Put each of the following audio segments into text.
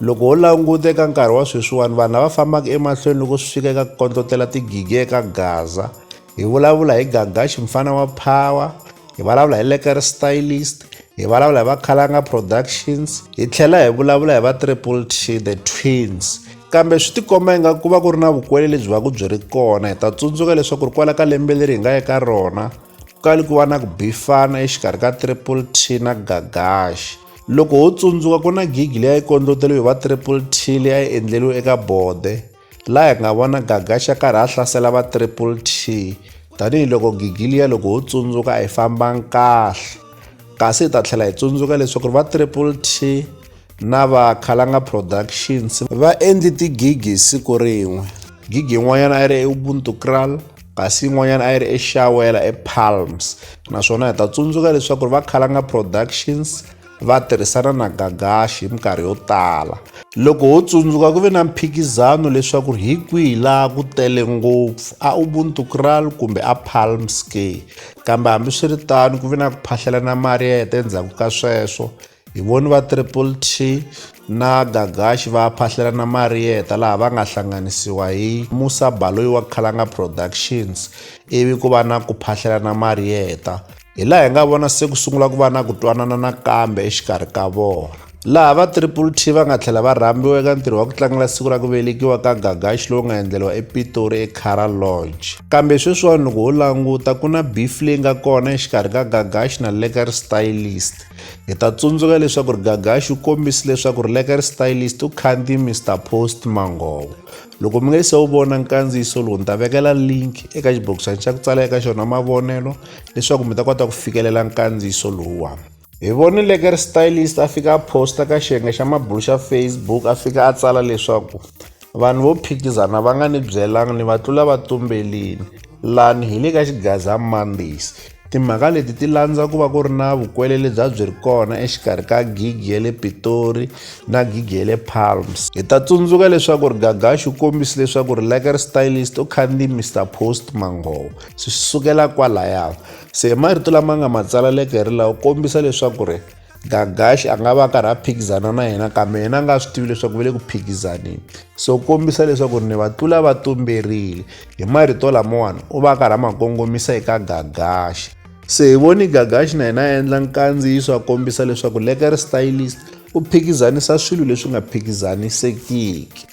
Loko ho languta eka nkarhi wa sweswiwani vanhu lava fambaka emahlweni loko swi fika eka ku kondlotela tigigi eka gaza hi vulavula hi gagaxi mfana wa power hi vulavula hi leker stylist hi vulavula hi vakhalanga productions hi tlhela hi vulavula hi va triple t the twins kambe swi tikomba inga ku va ku ri na vukwele lebyi va ku byi ri kona hi ta tsundzuka leswaku ri kwala ka lembe leri hi nga eka rona ku kali ku va na ku bifana exikarhi ka triple t na gagaxi Loko ho tsundzuka ku na gigi leyi a yi kondloteriwe hi va Triple T leyi a yi endleriwe eka bode laha hi nga vona Gagaxa karhi a hlasela va Triple T tanihiloko gigi liya loko ho tsundzuka a yi fambanga kahle kasi hi ta tlhela hi tsundzuka leswaku va Triple T na va Khalanga Productions va endli tigigi hi siku rin'we gigi yin'wanyana a yi ri eUbuntu Kral kasi yin'wanyana a yi ri exawela epalms naswona hi ta tsundzuka leswaku ri va khalanga productions va tirhisana na gagashi hi minkarhi yo tala loko ho tsundzuka ku ve na mphikizano leswaku ri hi kwihi laha ku tele ngopfu a ubuntu kral kumbe a palms k kambe hambiswiritano ku ve na ku phahlelana mali ya heta endzhaku ka sweswo Hi voni va Triple T na Gagashi va phahlela na Marieta laha va nga hlanganisiwa hi Musa Baloyi wa Khalanga Productions ivi ku va na ku phahlela na Marieta. Hi laha hi nga vona se ku sungula ku va na ku twanana nakambe exikarhi ka vona. Laha va Triple T va nga tlhela va rhambiwa eka ntirho wa ku tlangela siku ra ku velekiwa ka Gagashi lowu nga endleriwa ePitori eCara Lodge. Kambe sweswiwani loko ho languta ku na beef leyi nga kona exikarhi ka Gagashi na Lekker Stylist. Hi ta tsundzuka leswaku ri Gagaxi u kombisi leswaku ri Lekari Stylist u khandziye Mr Post Mangovo. Loko mi nga se wu vona nkandziyiso lowu ni ta vekela link eka xibokisana xa ku tsala eka xona mavonelo leswaku mi ta kota ku fikelela nkandziyiso lowuwani. Hi vone Lekari Stylist a fika a posta ka xiyenge xa mabulu xa Facebook a fika a tsala leswaku Vanhu vo phikizana va nga ni byelanga ni va tlula va tumbelini. Lani hi le ka Xigaza Mondays. Timhaka leti ti landza ku va ku ri na vukwele lebya byi ri kona exikarhi ka gigi ya le Pitori na gigi ya le Palms. Hi ta tsundzuka leswaku ri Gagashi u kombise leswaku ri Lekker Stylist u khandziye Mister Post Manghovo. Swi sukela kwalaya. Se hi marito lama nga ma tsala Lekker la u kombisa leswaku ri. gagaxi a nga va a karhi a phikizana na yena kambe yena a nga swi tivi leswaku va le ku phikizaneni so kombisa leswaku ri ni va tlula va tumberile hi marito lamawani u va a karhi a ma kongomisa eka gagaxi se hi voni gagaxi na yena a endla nkandziyiso a kombisa leswaku leker stylist u phikizanisa swilo leswi nga phikizanisekiki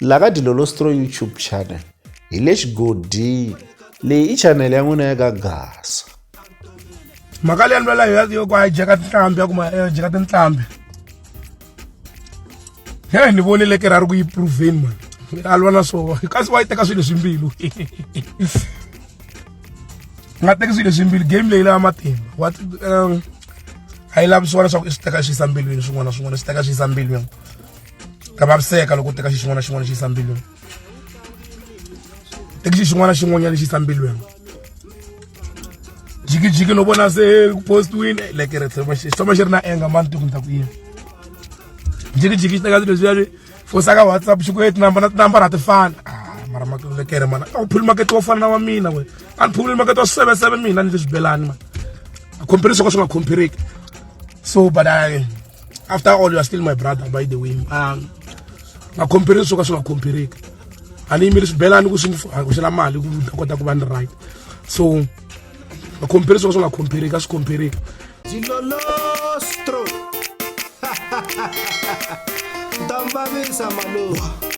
la ka dilolostro youtube channel hi le xigodini leyi i chanele ya n'wina ya ka gasa mhaka leyi lwela yo ku hijeka tinhlambi ya kuma eh, hijeka tinhlambi he ni vonile ke ra ri ku yi proveni mani a lwa na swona kasi wa yi teka swilo leswi mbilu nga teki swilo leswi mbilu game leyi lava matimba wa um, a yi lavi swona swa ku i swi teka swi yisa mbilwini swin'wana na swin'wana swi teka swi yisa mbilwini ta vaviseka loko u teka xi xin'wana na xin'wana xi yisa mbilwini teki xi xin'wana na xin'wanyana xi yisa mbilwini jikijiki no vona se ku postiwini like ri tlhoma xi tlhoma xi ri na enga mani tiku ni ta ku yini jikijiki xi teka swilo leswiya swi fosa ka whatsapp xi ku e tinambara tinambara a ti fani mara makekere mana a wu phuli makete wo fana na wa mina we a ni phuli makete wa seven seven mina ni leswi belani ma a compare swo ka swi nga compareki so but i after all you are still my brother by the way um nga compare swo ka swi nga compareki a ni yimeli swibelani ku swi ku xela mali ku ta kota ku va ni right so nga compare swo ka swi nga compareki a swi compareki dilolostro ntambavisa malowa